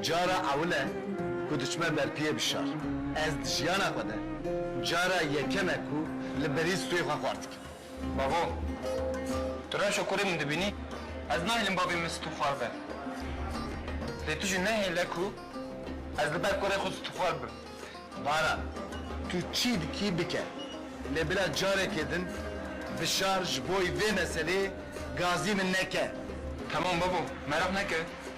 Cara ewil e ku diçime berpiyê bi şar. Ez di jiyana xwe de cara yekem e ku li berî stûyê xwe xwar dikim. Bavo, tu rewşa kurê min dibînî? Ez nahêlim bavê min stû xwar be. Lê tu jî nehêle ku ez li ber kurê xwe stûxwar bim. Baran, tu çi dikî bike. Lê bila carekê din bi şar ji boî vê meseleyê gazî min neke. Temam bavo, meraq neke.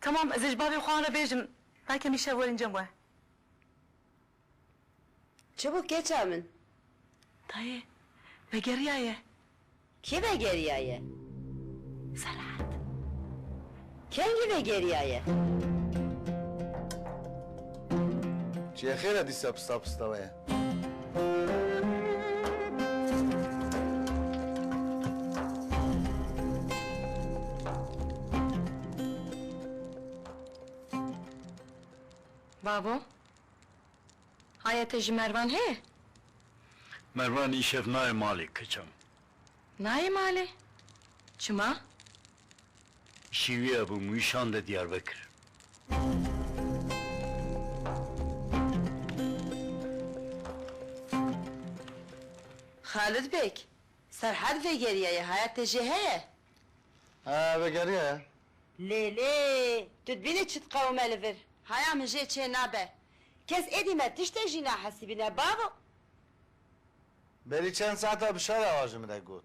Tamam ez ê ji bavê xwe an re bêjim ba kemî şev werin cem we. Çibûk keça min. Dayê vegeriyaye. Kê vegeriyaye? Serhad. Kengî vegeriyaye? Çiyê xêr e dîsa pista pista we ye. Babo, haya te ji Mervan heye? Mervan îşev nayê malê kiçan. Nayê malê? Çima? Şîwiya bi mûyişan de Diyarbekir. Xalid Beg, Serhad vegeriyaye haya te jê heye? He, vegeriyaye. Lê lê, tu dibînî çi diqewime li vir. Haya min jê çê nabe. Kes êdî me tiştê jî nahesibîne bavo. Berî çend saetan bi şara wa ji min re got.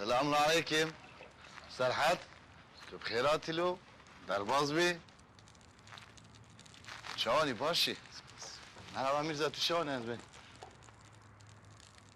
Selamun aleyküm. Serhat, tu bi xêr hatî lo, derbaz bî. Çawanî baş î? Merhaba Mîrza, tu çawanî ez bê.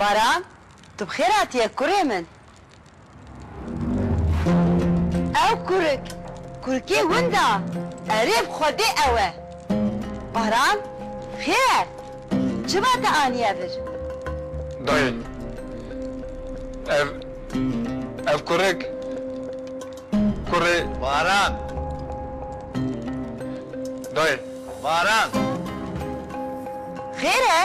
Baran, tu bi xêr hatiye kurê min. Ew kurik, kurikê winda, erê bi xwedê ew e. Baran, xêr e, çima te aniye vir? Dayê, ev, ev kurik, kurê. Baran. Dayê. Baran. Xêr e,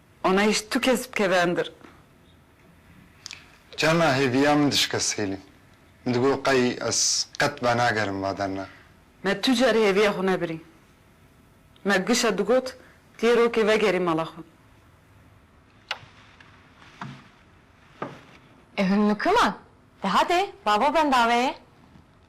Anayîş tu kes bikeve endir. Carna hêviya min dişike Sêlîm. Min digot qey ez qet venagerim va derna. Me tu car hêviya xwe nebirî. Me gişa digot tu yê rokê vegerî mala xwe. Ev himnûkima? Dehatê babo bendaveyê.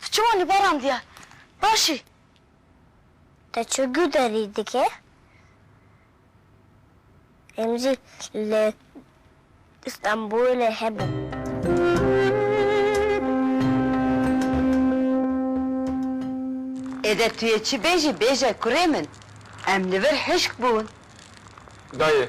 Tu çima li baran diya? Baş î? Te çi guderî dike? Em jî li Stenbolê hebûn. Êdî tu yê çi bêjî bêje kurê min. Em li vir hişk bûn. Dayê,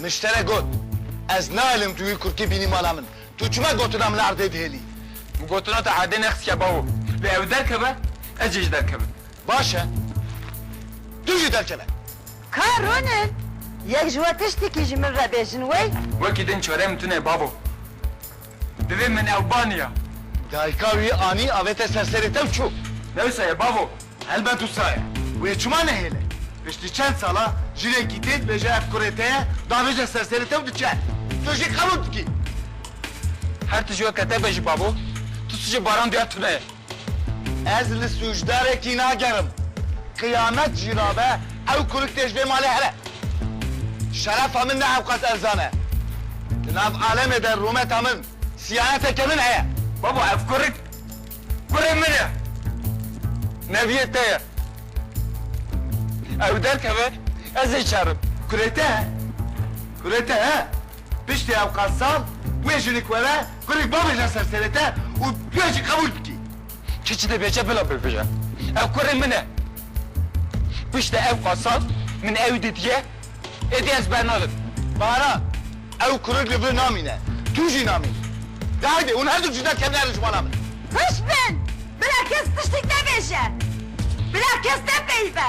Niştere got, Ez naelim tu wî kurkî bînî mala min. Tu çima gotina min li erdê dihêlî? Min gotina te erdê nexistiye bawo. Lê ew derkeve, ez jî ji derkevim. Baş e. Tu jî derkeve. Ka Ronin, yek ji we tiştekî ji min re bêjin wey? Wekî din çareyê min tune ye babo. Divê min ew ba niya. Dayika wî anî avête ser serê te û çû. Ne wisa ye bavo? Helbet wisa ye. Wê çima nehêle? Piştî çend sala jinekî tê dibêje ev kurê te ye, davêje ser serê te û diçe. Tu jî qebûl dikî. Her tiji weke te be jî bavo, tu tiji baran duya tune ye. Ez li sûcdarekî nagerim. Qiyamet jî rabe ew kurik tê ji vê malê here. Şerefa min ne hewqas erzan e. Di nav alemê de rûmeta min, siyaneteke min heye. Baba ev kurik, kurê min e. Neviyê te ye. Ew derkeve ez ê şerim. Kurê te he? Kurê te he? Piştî ewqas sal wê jinik were kurî bavê jî ser sêrete û wê jî qebûl bikî. Kî çi dibêje bila bibêje. Ew kurê min e. Piştî ewqas sal min ew didiye êdî ez bernadim. Bahara, ew kurik li vir namîne. Tu jî namînî. De heydê hûn herdu cuda kevin herin ji mala min. Hişt bin! Bila kes tiştî nebêje. Bila kes nepeyive.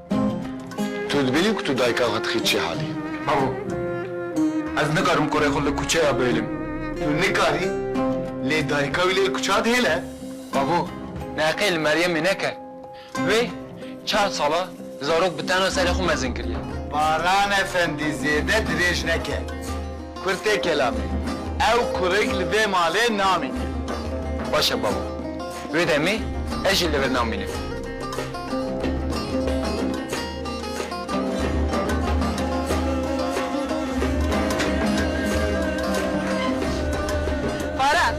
Tu dibînî ku tu dayika xwe dixî çi halê. Bavo. Ez nikarim kurê xwe li kuçeya bihêlim. Tu nikarî, lê dayika wî lê kuça dihêle. Bavo, neqê li Meryemê neke. Wê çar sal e zarok bi tena serê xwe mezin kiriye. Baran efendî zêde dirêj neke. Kurd tê kelamê. Ew kurik li vê malê namîne. Baş e babo. Wê demê ez jî li vir namînim. Baran!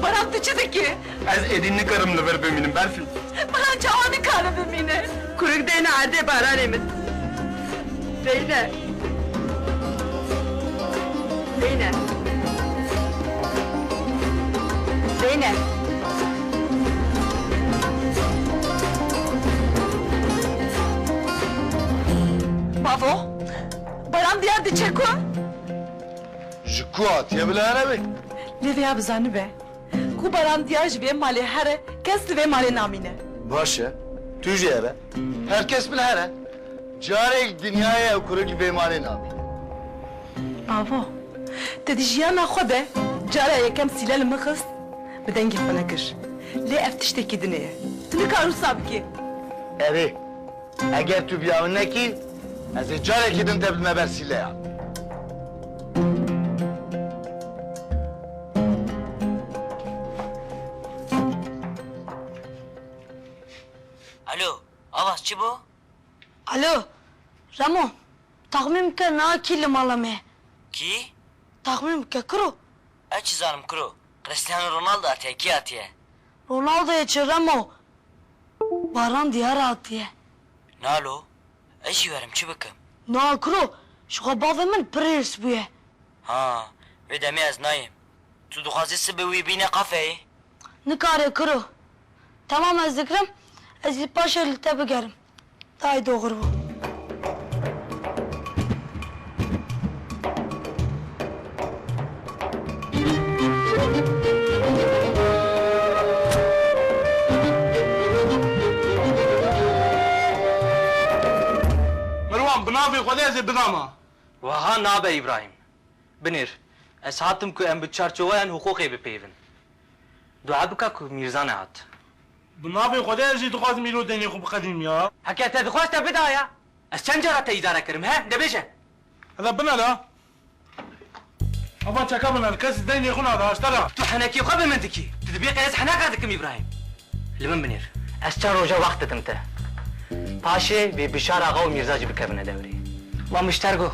Baran tu çi dikî? Ez êdî nikarim li vir bimînim Berfî. Min çawa nikare bimîne. Kurik deyne erdê baranê min. Deyne. Deyne. Deyne. Bavo, baran diyar diçe ku? Ji ku hatiye bila here be? Lê vêya bizanibe. Ku barandiya ji vê malê here, kes li vê malê namîne. Baş e, tu jî here, her kes min here. Carek dinyayê ew ku li vê malê namîne. Avo, te di jiyana xwe de cara yekem sîle li min xist, bi dengê xwe nekir. Lê ev tiştekî din ê ye. Tu nikar wisa bikî. Erê. Eger tu vîya min nekî, ez ê carekî din te bidime ber sîleyan. Alo, Avaz çi bo? Alo, Remo, taxmîn bike niha kî li mala me ye? Kî? Taxmîn bike, kiro? Ez çi zanim kiro, Cristiano Ronaldo hatiye, kî hatiye? Ronaldoyê çi remo baran diyar hatiye. Na lo ez jî werim çi bikim. Na kuro ji xwe bavê min pir hîrs bûye. Ha vê demê ez nayêm. Tu dixwazî sibê wî bîne kafeyê? Nikare kuro. Temam ez dikirim ez jî paşê li te bigerim. Tay doğru bû. Merwan, bi navê Xwedê ez ê bidama. Weha nabe Îbrahîm. Binêr, ez hatim ku em bi çarçoweyan huqûqê bipeyivin. Dua bike ku Mîrzane hat. Bi navê Xwedê ez jî dixwazim îro dengê xwe biqedînim ya. Heke te dixwaz te bidaye. Ez çend cara te îdare kirim he de bêje. Hede binera. Hava çeka biner kes dengê xwe nada aşta ra. Tu henekî xwe bi min dikî. Tu dibê qe ez heneqa dikim Îbrahîm. Li min binêr. Ez çend roja wext didim te. Paşê vê Bişar axa û Mîrza jî bikevine dewrê. Ma mişter go.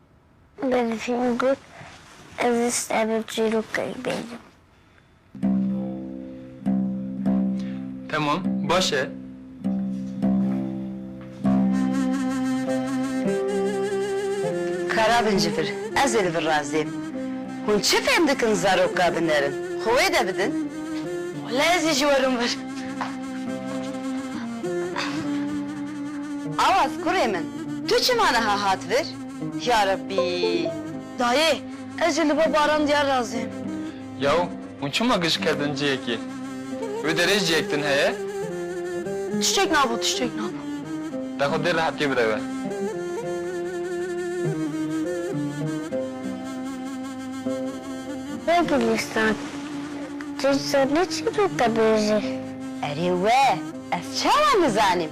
Berfîn got, Ez ê stevê çîrokek bêjim. Temam, baş e. Kara bincivir, ez ê li vir raziyim. Hûn çi fêm dikin zarok ka binerin? Xwe wê de bidin. Wele ez ê jî werim vir. Awaz, kurê min. Tu çima niha hat vir? Ya Rebbî! Dayê, ez jî li bo Baran Diyar razî im. Yaw, hûn çima giş kerdin cihekê? Wê derê cihek din heye? Tiştek nabo, tiştek nabo. Te xwe dê rehetiyê bide we. Hey Gulîstan, tu ji zannê çi dibêjî? Erê we, ez çawa nizanîm?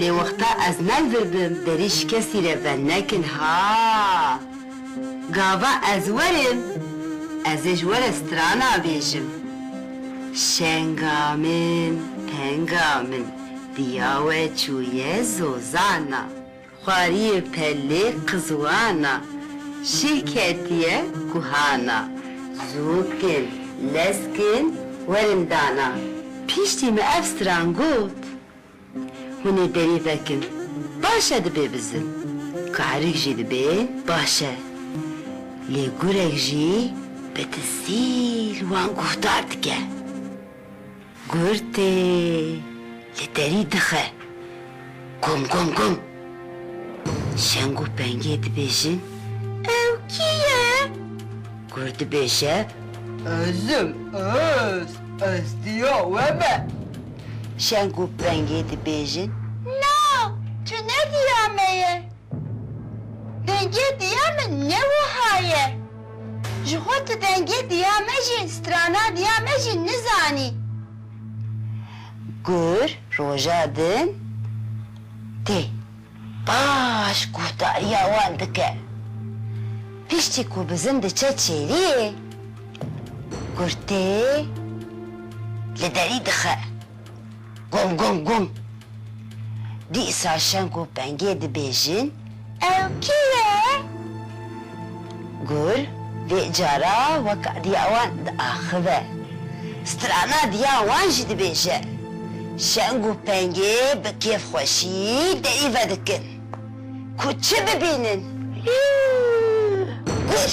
Lê wexta ez nevirbim berî ji kesî re venekin ha. Gava ez werim ez ê ji we re strana bêjim. Şenga min, tenga min, diya we çûye zozana. Xwariyê pelê qizwan a. Şîh ketiye guhan a. Zûk in, lesk in, werin dana. Piştî me ev stran got. Hûn ê berî vekin, baş e dibê bizin. Karik jî dibê, baş e. Lê gurek jî bi dizîl wan guhdar dike. Gurtê li derî dixe gom gom gom. Şeng û pengê dibêjin ew kî ye? Gur dibêje Ez im ez, ez diya we me. Şeng û pengê dibêjin Na, tu ne diya me ye. Pengê diya min ne wiha ye. Ji xwe tu dengê diya me jî, strana diya me jî nizanî. Gur roja din tê. Baş guhdariya wan dike. Piştî ku bizin diçe çêliyê, gur tê li derî dixe. Gom gom gom! Dîsa şeng û pengê dibêjin, Ew kî ye? Gur vê cara weka diya wan diaxive. Strana diya wan jî dibêje. Şeng û pengê bi kêfxweşî derî vedikin. Ku çi bibînin? Gur!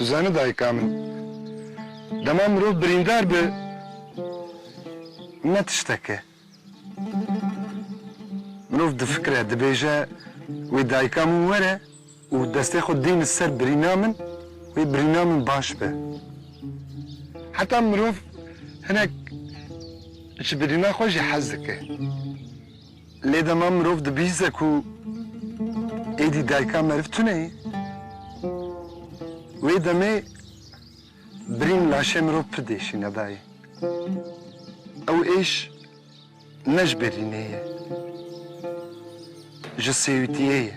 Tu zanî dayika min, dema mirov birîndar bi ne tiştek e. Mirov difikire, dibêje wê dayika min were û destê xwe dîne ser birîna min, wê birîna min baş be. Heta mirov hinek ji birîna xwe jî hez dike. Lê dema mirov dibihîze ku êdî dayika meriv tune ye, wê demê birîn laşê mirov pir diêşîne dayê. Ew êş ne ji berînê ye, ji sêwîtiyê ye.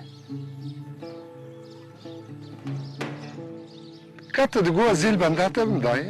Kate di goa zêl benda te bim dayê.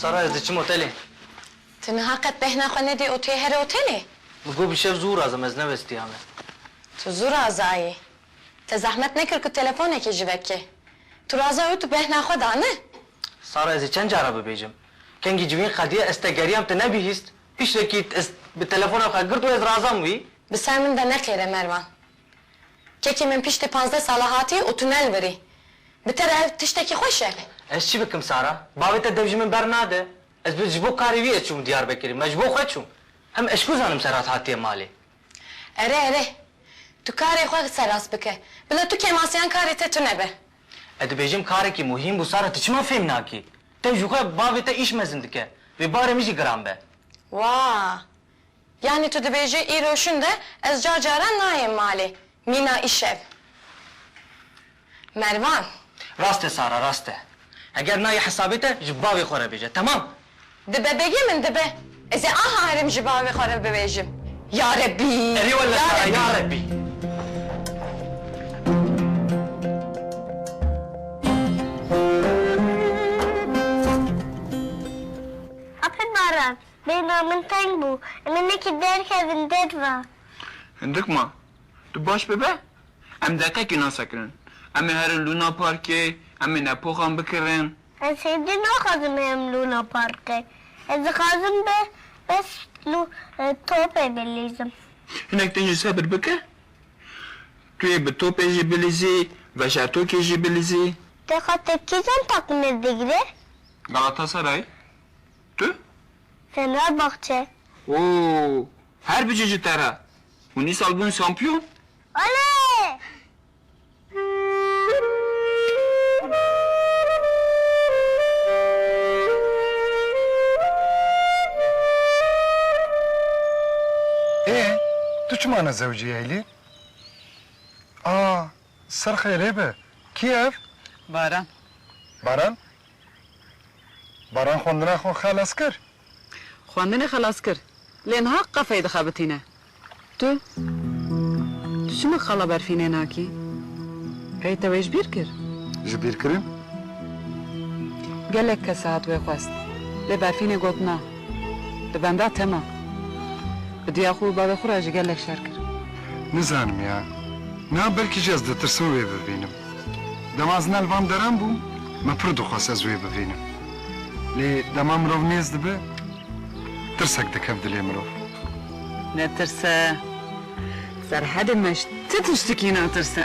Sara ez diçim otelê. Ti niha qet bêhna xwe nedî û tu yê here otelê? Min got bi şev zû razim ez nevestiyame. Tu zû razayî. Te zehmet nekir ku telefonekê ji vekê. Tu razayî û tu bêhna xwe dane. Sara ez ê çend cara bibêjim. Kengî ji vîn qediyê ez te geriyam te nebihîst. Piştekî ez bi telefona xwe girt û ez razam wî. Bi ser min de neqêre Mervan. Kekê min piştî pazdeh sala hatî û tu nelbirî. Bi te re ev tiştekî xweş e. Ez çi bikim Sara? Bavê te dev ji min bernade. Ez bi ji bo karê wî ye çûm Diyarbekirê. Me ji bo xwe çûm. Em eşkû zanim Serhat hatiye malê. Ere ere. Tu karê xwe seraz bike. Bila tu kêmasiyan karê te tune be. Ez dibêjim karekî muhîm bû Sara tu çima fêm nakî? Te ji xwe bavê te îş mezin dike. Vê barê min jî giran be. Wa! Yanî tu dibêjî îro şinde ez car caran nayêm malê. Mîna îşev. Mervan. Rast e Sara, rast e. Heger nayê hesabê te ji bavê xwe re bêje. Temam. Dibe begê min dibe. Ez ê aha herim ji bavê xwe re bibêjim. Ya Rebî! Erê wele Sara, ya Rebî! Hafid Mervan, Bêhna min teng bû. Em ê nekî derkevin derve. Hindik ma. Tu baş bibe. Em deqekî nasekirin. Em ê herin Luna Parkê. Em ê nepoxan bikirin. Ez hêdî naxwazim herim Luna Parkê. Ez dixwazim bi bes lu topê bilîzim. Hinek din jî sebir bike. Tu yê bi topê jî bilîzî, veşertokê jî bilîzî. Te xwe tepkîjan teqmir digire? Galatasaray. Tu? Fenerbahçe. Oo! Her biçe ji te re. Hûn îsal bûn şampiyon? Olê! Ê, tu çima nezewicî Eylîn? A, serxê rê be. Kî ev? Baran. Baran? Baran xwendina xwe xelas kir. Xwendinê xelas kir. Lê niha qefeyê dixebitîne. Tu, tu çima qala berfî nênakî? Hey te wê ji bîr kir? Ji bîr kirin. Gelek kes hat wê xwest. Lê berfînê got na. Li benda te ma. Bi diya xwe û bavê xwe re jî gelek şer kir. Nizanim ya. Niha belkî jî ez ditirsim wê bibînim. Dema zina li van deran bûm, me pir dixwest ez wê bivînim. Lê dema mirov nêz dibe, tirsek dikeve dilê mirov. Ne tirse. Serhedê me ji ti tiştikî natirse.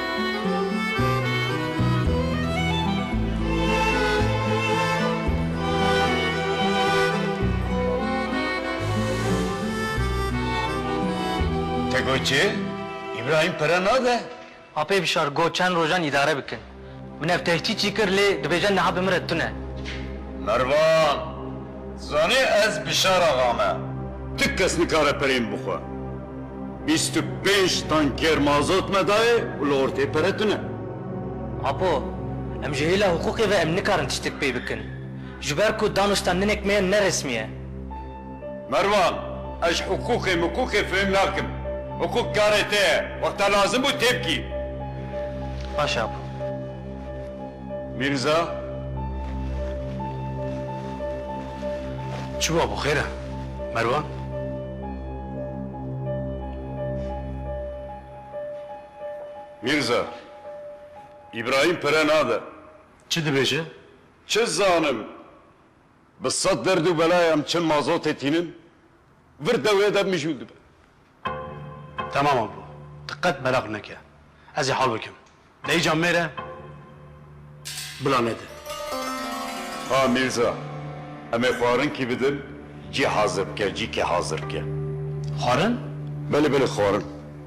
Te got çi? Îbrahîm pere nade? Apê bişar got çend rojan îdare bikin. Min ev tehcîcî kir lê dibêje niha bi min re tune. Mervan, Tu zanî ez Bîşar axa me. Ti kes nikare pereyên bixwe. Bîst û pênc tankêr mazot me dayê û li ortê pere tune. Apo, em ji hêla hiqûqê ve em nikarin tiştek pê bikin. Ji ber ku danûstan ninek me ye neresmî ye. Merwan, Ez hiqûqê miqûqê fêm nakim. Hiqûq karê te ye. Wexta lazim bû tê bikî. Baş e Apo. Mîrza, Çi bû Apo xêr e? Merwan, Mîrza, Îbrahîm pere nade. Çi dibêje? Çi zanim. Bi sed derd û bela em çin mazotê tînin, vir dewrê de mijûl dibe. Temam a bo, tu qet beraq neke. Ez ê hal bikim. Dayî can mêre bila nede. Ha Mîrza, em ê xwarin kî bidin, cî hazir bike, cî kê hazir bike. Xwarin? Belê belê xwarin.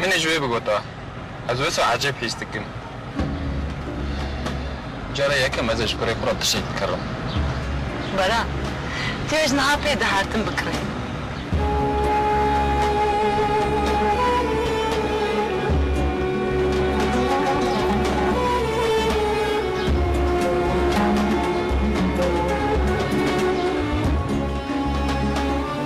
Min e ji wê bigota. Ez wisa ecêb hîs dikim. Cara yekem ez ê ji kurê xwe re tiştek bikirim. Baran, tu yê ji niha pê dihertin bikirî.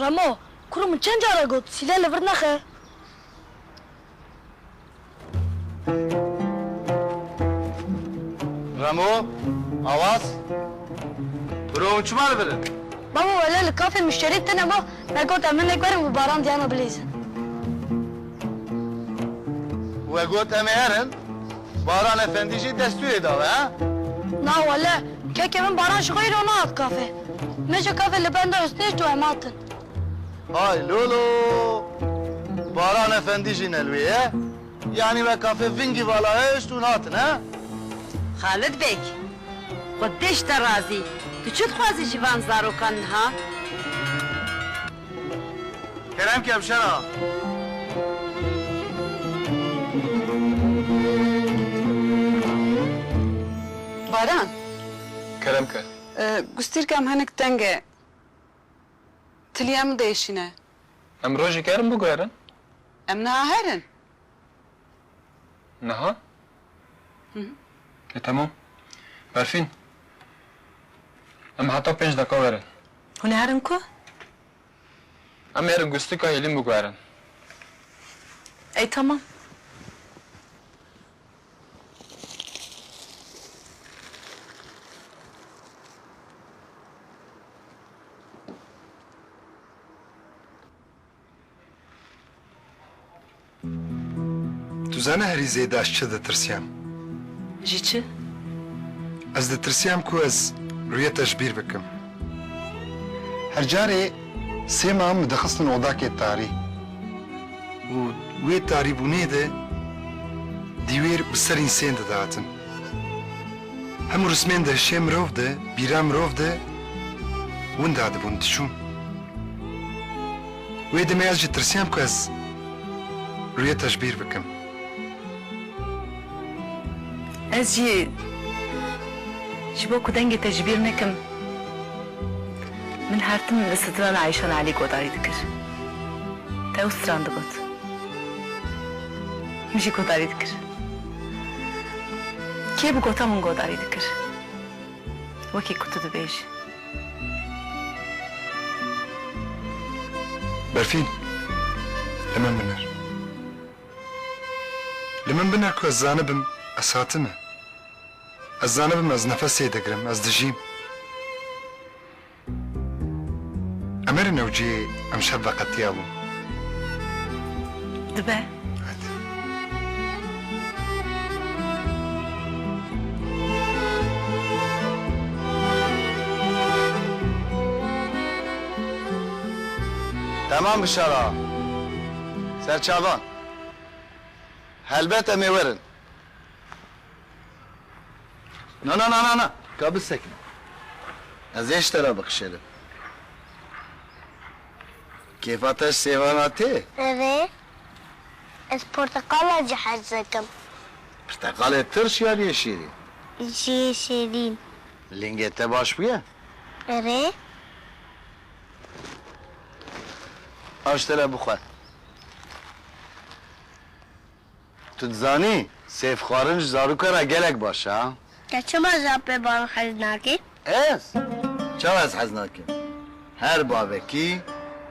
Remo, kuro min çend care got sîle li vir nexe. Remo, Awaz, kuro hûn çima li vir in? Babo, wele li kafê muşterî tune bû, me got em hinek werin û baran diyana bilêzin. We got em ê herin? Baran efendî jî destûrê dawe he? Na wele, keke min Baran ji xwe îro nehat kafê. Me ji kafê li benda Husnêşt û em hatin. Hay lolo! Baran efendî jî ne li wê ye? Yanî we kafê vingî vala hişt hûn hatin he? Xalid Beg, xwe dê ji te razî, tu çi dixwazî ji van zarokan niha? Kerem Kevşera. Baran. Kerem ke. Gustîrka em hinik teng e. Tiliya min de êşîne. Em rojê germ biguherin. Em niha herin. Niha? E temam. Berfîn, em heta pênc deqa werin. Hûn ê herin ku? Em ê herin ku stika hêlîn biguherin. Ey temam. Tu zane herî zêde ez çi ditirsiyam? Ji çi? Ez ditirsiyam ku ez rûyê te ji bîr bikim. Her carê sê mam min dixistin odakê tarî û wê tarîbûnê de dîwêr bi serîn sên didatin. Hemû rismên de şê mirov di, bîra mirov di, winda dibûn, diçûn. Wê demê ez jî tirsiyam ku ez rûyeta ji bîr bikim. Ez jî ji bo ku dengê te ji bîr nekim, min her tim li strana Eyşan Elî godarî dikir. Te û stran digot. Min jî godarî dikir. Kê bi gota min godarî dikir wekî ku tu dibêjî. Berfîn, li min binir. Li min binir ku ez zanibim ez hatime. Ez zanibim ez nefesê digirim, ez dijîm. Emir Newcî emşev veqetiya bû. Dibe. Temam bişara serçavan. Helbet em ê werin. Na na na na na ka bisekine. Ez ê ji te re bikişêrim. Kêfa te ji sêvana tê? Ev ê. Ez porteqala jî hez dikim. Pirteqalê tirş yan yê şîrîn? Jî yê şîrîn. Lingê te baş bûye? Ev ê. Ew ji te re bixwe. Tu dizanî sêf xwarin ji zarokê re gelek baş e. Te çima ji apê baran hez nakî? Ez? Çawa ez hez nakim? Her bavekî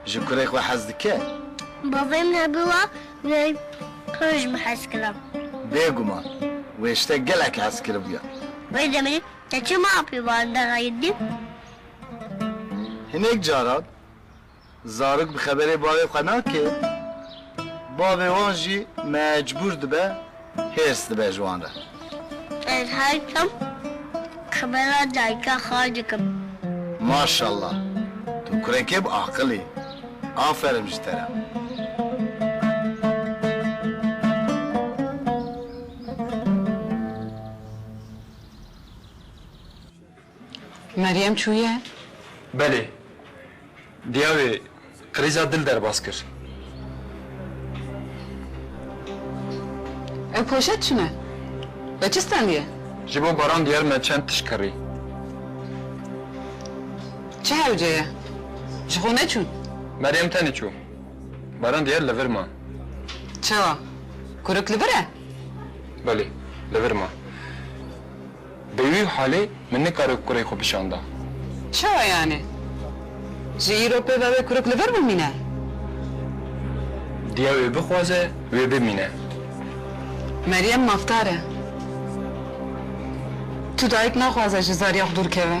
ji kurê xwe hez dike. Bavê min hebû wa wê kur ji min hez kira. Bêguman wê ji te gelek hez kiribûya. Wê demê te çima apê baran derayîrdî? Hinek caran Zarok bi xeberê bavê xwe nake, bavê wan jî mecbûr dibe hêrs dibe ji wan re. Ez haykam xebera dayika xwe dikim. Maşallah tu kurekê bi aqil î. Aferin ji te re. Meryem çûye? Belê. Diya wê krîza dil derbas kir. Ew poşet çi ne? Li çi stendiye? Ji bo Baran diyar me çend tişt kirî. Çi hewce ye? Ji xwe neçûn? Meryem tenê çû. Baran diyar li vir ma. Çawa? Kurik li vir e? Belê, li vir ma. Bi wî halê min nikare kurê xwe bişanda. Çawa yanê? Ji îro pê ve wê kuruk li vir bimîne? Diya wê bixwaze wê bimîne. Meryem mafdar e. Tu dayik naxwaze ji zaryax dûr keve.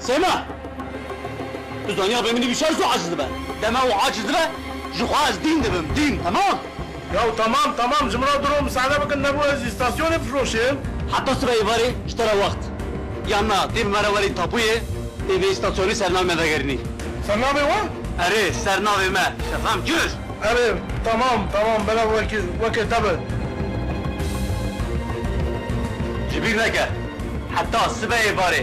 Sema! Tu zaniyabê min îdî şer zû aciz dibe. Dema û aciz dibe, ji xwe ez dîn dibim, dîn, temam? Yaw temam, temam, ji min re diro misale bikin, nebû ez îstasyonê bifroşim? Heta sibe êvarê ji te re wext yan na, dê bi me re werî tapûyê, dê vê îstasyonê sernavê me vegerinî. Sernavê we? Erê, sernavê me, Şefem Cur! Erê, temam, temam, belav wekî, wekê te be. Ji bîr neke, heta sibe êvarê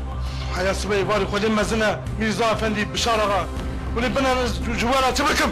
Heya sibeyê barî xwe lê mezin e Mîrza Efendî, Bişar axa. Hûnê bin herin ez ji we re çi bikim?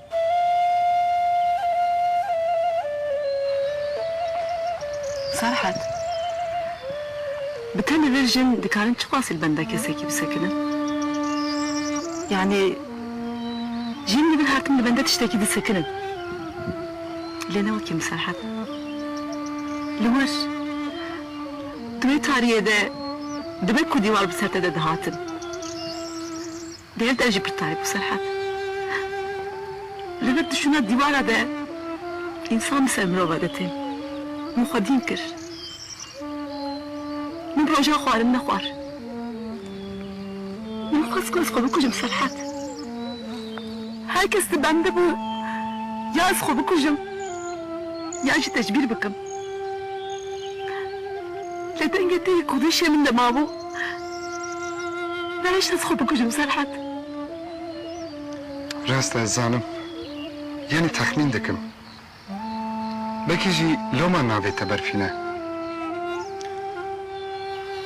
Serhat, Bi te li vir jin dikarin çiqasî li benda kesekî bisekinin? Yanî jin li vir hatin li benda tiştekî disekinin. Lê ne wekî min Serhat. Li wir, di wê tariyê de dibe ku dîwar bi ser te de dihatin. Dêr de jî pir tarîk û serhet. Li vir dişûna dîwara de însan bi ser mirova de tên. Min xwedîn kir. Min roja xwarin nexwar. Min xwest ku ez xwe bikujim serhet. Her kes li bende bû ya ez xwe bikujim ya jî tecbîr bikim. Lê dengê te yê kûdişê min de mabû. Nehêşt ez xwe bikujim Serhet. Rast ez zanim. Yanî texmîn dikim. Belkî jî loma navê te Berfîne.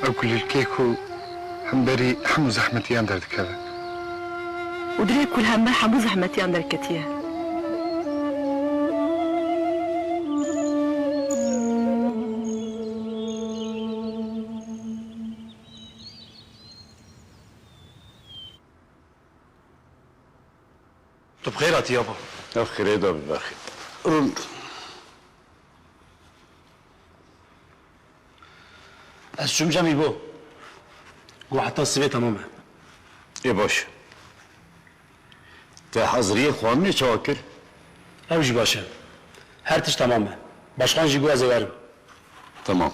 Ew kulîlkê ku hemberî hemû zehmetiyan derdikeve. Û dilê ku li hember hemû zehmetiyan derketiye. Tu bi xêr hatî ya bo. Ev xêrê da biberxî. Rûn. Ez çûm cemî bo. Got heta sivê temam e. Ê baş e. Te haziriyê xwarinê çawa kir? Ew jî baş e. Her tişt temam e. Başxan jî got ez ê werim. Temam.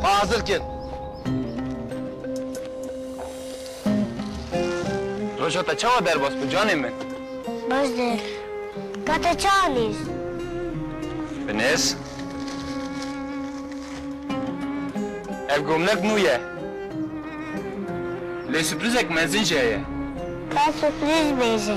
Xwe hazir kin. Roja te çawa derbas bû canê min? Baş dêr. Ka te çi anîst? Bi nêz. Ev gomnek nû ye. Lê sürprizek mezin jî heye. Ka sürpriz bêje.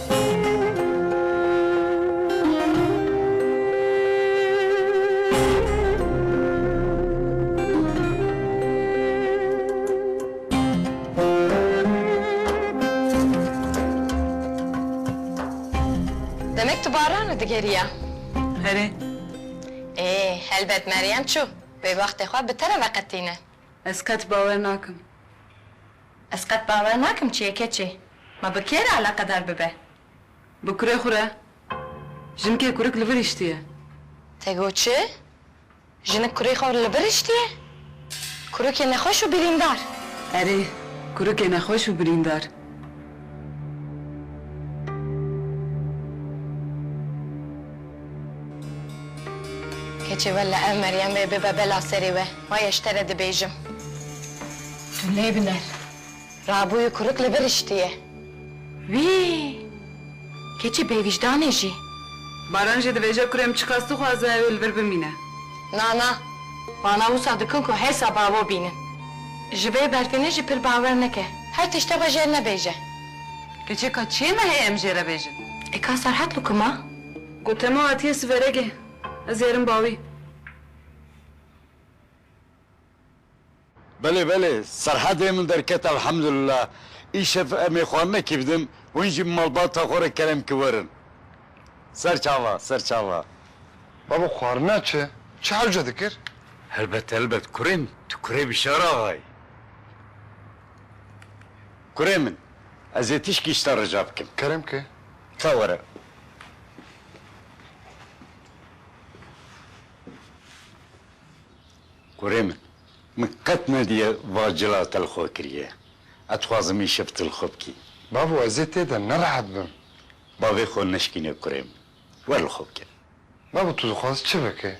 Demek tu Baran'ı digeriya? Herê. Ê, helbet Meryem çû. Wê wextê xwe bi te re veqetîne. Ez qet bawer nakim. Ez qet bawer nakim çê keçê me bi kê re eleqedar bibe. Bi kurê xwe re jinkê kurik li vir hiştiye. Te got çi? Jinik kurê xwe li vir hiştiye? Kurikê nexweş û birîndar. Erê, kurikê nexweş û birîndar. Keçê wella ev Meryem ê bibe bela serê we. Wayeş te re dibêjim. Tu lê biner. Rabûyî kurik li vir hiştiye. Wî! Keçî bêvîjdanê jî. Baran jî dibêje kurê min çiqas dixwaze ew ê li vir bimîne. Na, na. Vana wisa dikin ku hêsa bavo bînin. Ji vê berfênê jî pir bawer neke. Her tiştê xwe jêr nebêje. Keçê ka çiyê me heye em jê re bêjin. E ka Serhat li ku ma? Gote ma hatiye siveregê. Ez herim bawî. Belê belê serhedê min derket elhemdulillah. Îşev emê xwe nekivdim hûn jî malbata xwe re kerem ki werin. Ser çava ser çava. Babo xwarina çi? Çi hewce dikir? Helbet helbet kurê min tu kurê Bîşar Axa yî. Kurê min ez ê tişkî ji te rica bikim. Kerem ki. Ka were. Kurê min, min qet nediye va cila te li xwe kiriye. Ez dixwazim îşev tu li xwe bikî. Bavû ez ê tê de nerehet bim. Bavê xwe neşikîne kurê min. Wer li xwe bike. Bavû tu dixwazî çi bike?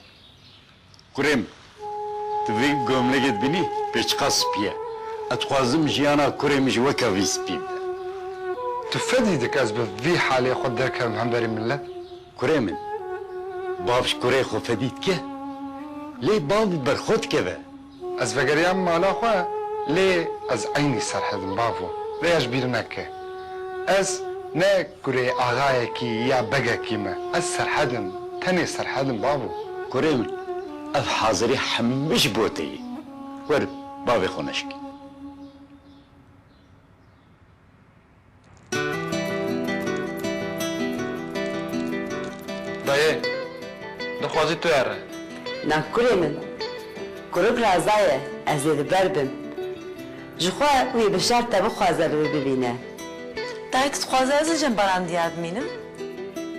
Kurê min, tu vê gomlekê dibînî pê çiqas spî ye. Ez dixwazim jiyana kurê min jî weke vî spî bibe. Tu fedî dike ez bi vî halê xwe derkevim hemberî milet? Kurê min, bav ji kurê xwe fedî dike, lê bav bi ber xwe dikeve. Ez vegeriyam mala xwe, lê ez eynî serhedim bavo, lê ez bîr neke. Ez ne kurê axayekî ya begekî me, ez serhedim, tenê serhedim bavo. Kurê min, ev hazirî hemû ji bo te ye, were bavê xwe neşikî. Dayê, dixwazî tu erre. Na kurê min, kuruk raza ye, ez ê li ber bim. Ji xwe wî bi şert te bixwaze li wî bibîne. Dayê, tu dixwazî ez li Cembaran diyar bimînim?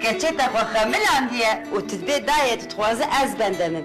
Keçê te xwe xemilandiye û tu dibê dayê, tu dixwazî ez bende min.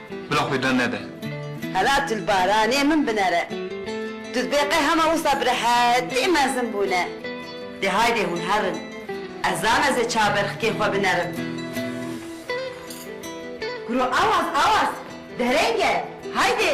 Bila xwe dan nede. Hela tu li baranê min binere. Tu dibê qey hema wisa bi rehetî mezin bûne. Dê haydê hûn herin. Ez zan ez ê çav ber xikê xwe binerim. Kuro awaz awaz dereng e. Haydê.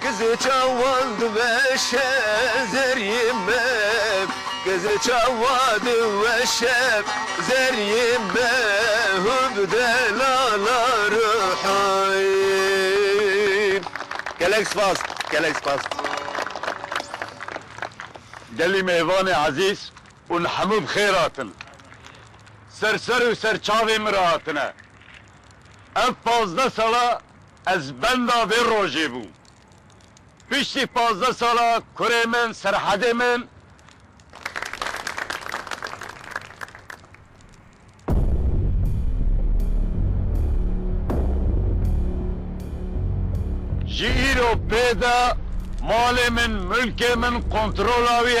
Kızê çawan diweşe zeriyê me Kızê çawa diweşe zeriyê me Hu bi delala ruhayîm Gelek spas gelek spas. Gelî mêvanê ezîz ûn hemû bi xêr hatin. Ser ser û ser çavê min re hatine. Ev pazdeh sala Ez benda vê rojê bû. Piştî pazdeh sala kurê min, Serhedê min, ji îro pê de malê min, milkê min kontrola wî